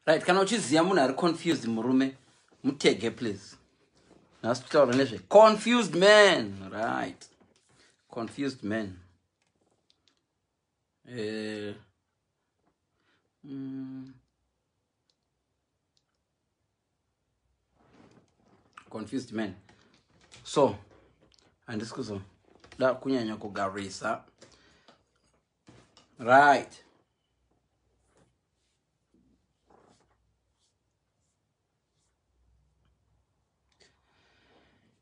right kana uchiziva munhu ari confused murume mutege please nhasi tutaura nezve confused man right confused man eh, mm. confused man so handisi kuzoda kunyanya kugarisa right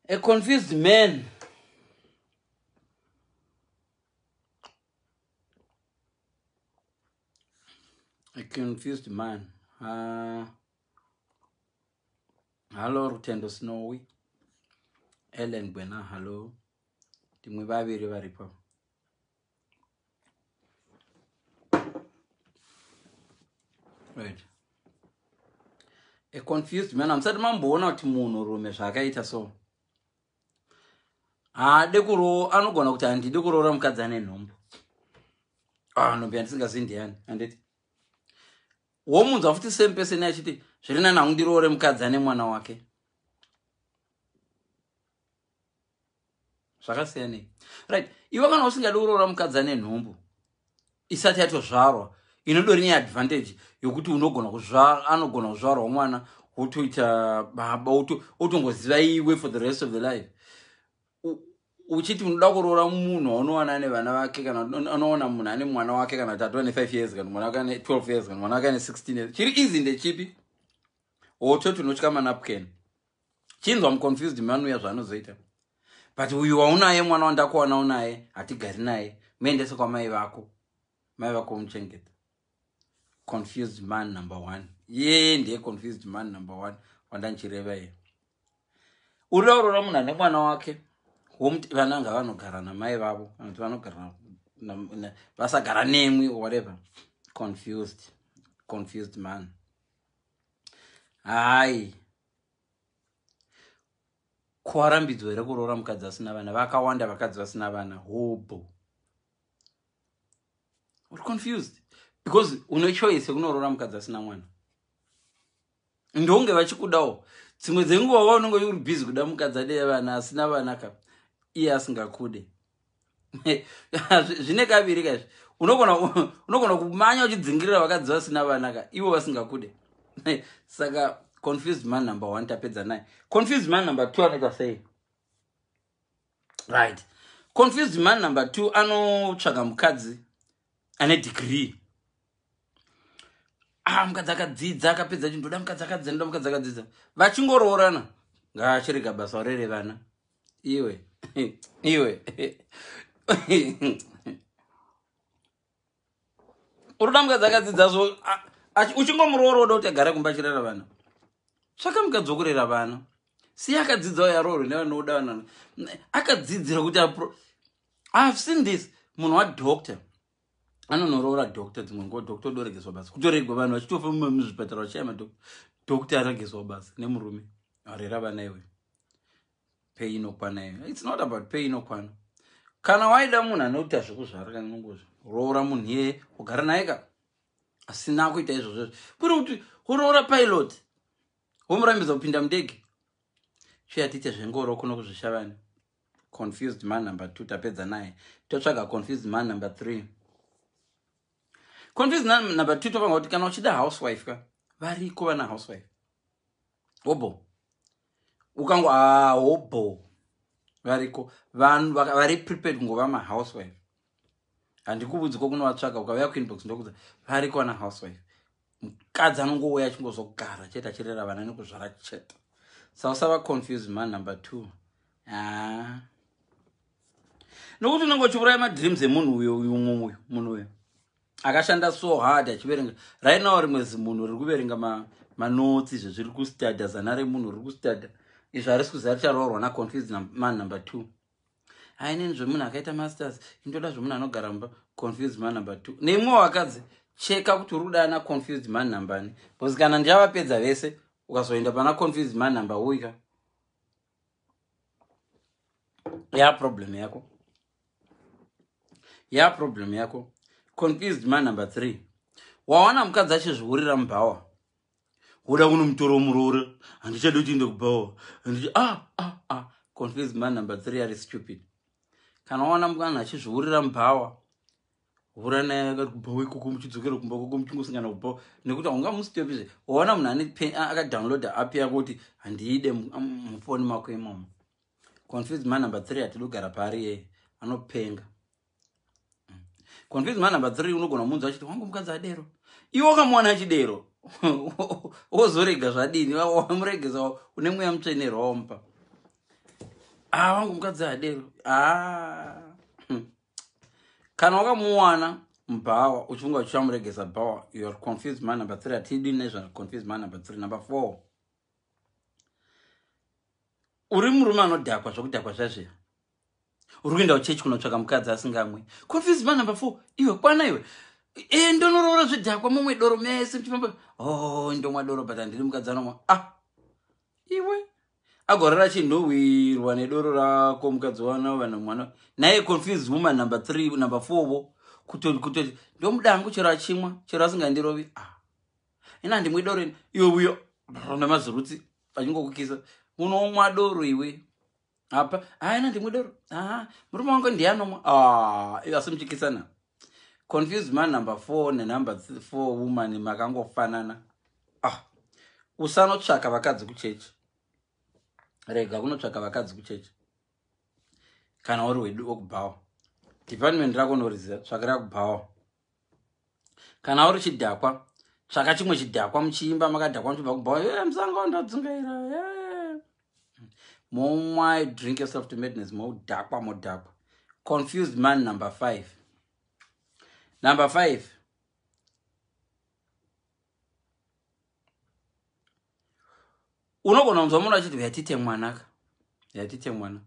a confused man a confused man uh, hallo rutendo snowy ellen bwena hallo timwe vaviri varipo right a confused man hamusati mamboona kuti munhu rume zvaakaita so haade kuroo anogona kuti handidi kuroora mukadzi ane nhombo ah, nhombo yandisingazivi ndiyani handiti womunzwa futi same person achiti zviri nani hangu ndiroore mukadzi ane mwana wake zvakasiyanei right iwe kana usingadi kuroora mukadzi ane nhumbu isati yatozvarwa inodori neadvantage yokuti unogona kuzvara anogona kuzvarwa mwana wotoita baba otongoziva iwe for the rest of the life uchiti unoda kuroora munhu waunowana ane vana vake kana unoona munhu ane mwana wake kana kuti atova ne5 years kana mwana wake ane 12 years kana mwana wake ane 16 years chiri easy ndechipi ototi unotya manapken chinzwa muconfused manuya zvaanozoita but uyu waunaye mwana wandakuwana unaye hatigari naye muendese kwamai vako mai vako umuchengeta confused man number one yee ndiye confused man number one wandanchireva ye uriaurora munhu ane mwana wake womuti vana anga vanogara namai vavo kana kuti vanogara vasagara nemwi whatever confused confused man hai kwarambidzwa here kuroora mukadzi asina vana vakawanda vakadzi vasina vana hobho uri confused because une choice yekunoroora mukadzi asina mwana ndonge vachikudawo dzimwe dzenguva va unenge uri busy kuda mukadzi ade vana asina vana ka iye asingakude zvine kaviri kaizvi unogona kumanya uchidzingirira vakadzi vasina vana ka ivo vasingakude saka confused man number one tapedza naye confused man number two anoita sei right confused man number two anotsvaga mukadzi ane degree ah mukadzi akadzidza akapedza chi ndoda mukadzi akadzidza ndoda mukadzi akadzidza vachingoroorana ngaachirega basa orere vana iwe iwe unoda mukadzi akadzidza zvo uchingomuroora woda kuti agare kumba achirera vana tsvaka mukadzi wokurera vana siya akadzidzawo yaroorwe nevanoda vana akadzidzira kuti apro ihave seen this munhu wadoctor anonoroora doctor dzimwe nguva doctor odoregezwa basa kutoregwa vanhu vachitofa muzvipatara vachishaya madoctor doctor aregezwa basa nemurume arera vana iwe pei inokwana iyo its not about pei inokwana kana waida munhu anoita zvekuzvara kana nongozvo roora munhu iyeye ugara naye ka asina kuita izvozvozvo kuri kuti uroora pilot womurambidza kupinda mudege chiyatiite zvengoro kuno kuzvishavani confused man number two tapedza naye totsvaga confused man number three confused man number two topanga kuti kana uchida housewife ka variko vana housewife obo ukango ah, hobho variko vanhu vari prepared kungova mahousewife handikuvudzi ko kunovatsvaga ukavaya kuinbox ndokudza variko vana housewife mukadzi anongouya achingozogara chete achirera vana nekuzvara chete sa usava confuse man number two ah. nokuti unenge uchiuraya madreams emunhu uyo uyu mumwe uyu munhu uyo akashanda so hard achiverenga right now rimwe zimunhu riri kuverenga ma, manotsi izvo zviri kustadha zana remunhu riri kustadha izvo harisi kuziva richaroorwa naconfused man number two hainini zvemunhu akaita masters indoda zvemunhu anogara mumba confused man number two neimwe wakadzi cheka kuti uri kudana naconfused man numbani bcause kana ndichavapedza vese ukazoenda pana confused man number uyika ya problem yako ya problem yako confused man number three wawana mukadzi achizviurira mubhawa woda kunomutora muroora handichadi kuti inde kubhawa handicha ah, ah, ah. confused man number three ari stupid kana wawana mukana achizviurira mubhawa hura naye akati kubhawo ikoko muchidzokera kumba koko muchingosangana kubhawo nekuti haunga musitopizve waona munhu ane akadownloada app yako kuti handiide mufoni mako imomo confuse man number three hatidi kugara paari yeye anopenga mm. confuse man number three unogona kumunzwa achiti wangu mukadzi adero iwe ukamuwana achidero wozorega zvadini wamuregesa une mweya mutsvene rompa a ah, wangu mukadzi adero a ah. kana wakamuwana mbhawa uchifunga kuti uchamuregesa bhawa youare confused man number three hatidi nezvaconfused man number three number four uri murume anodhakwa zvokudhakwa zvazviya uri kuenda kuchechi kunotsvaka mukadzi asingamwe confused man number four iwe kwana iwe e ndonoroora zvidhakwa mumwe doro mese muchifamba o oh, ndomwa doro but handiri mukadzi anomwa ah iwe agorara chinhuhwirwa nedoro rako mukadzi wana vanhu mwana naye confused woman number three number four vo kutoti kutoti ndomuda hangu chero achimwa chero asingandirovi ah. ina handimwe doro iwe uyo nemazurutsi achingokukisa unomwa doro iwe apa haina ndimwe doro aa murume wangu ndiye anomwa aa ivo asimutyikisana confused man number four nenumber th- four woman makangofanana ah usanotsvaka vakadzi kuchechi rega kunotsvaka vakadzi kuchechi kana uri wedu okubhawa department rako unoriziva tsvakira kubhawa kana uri chidhakwa tsvaka chimwe chidhakwa muchiimba makadhakwa muchibva kubhawa e eh, musango ndodzungaira e eh. momwai drink yourself to madness modhakwa modhakwa confused man number five number five unogona kunzwa munhu achiti uyatite mwanaka uyatite mwanaka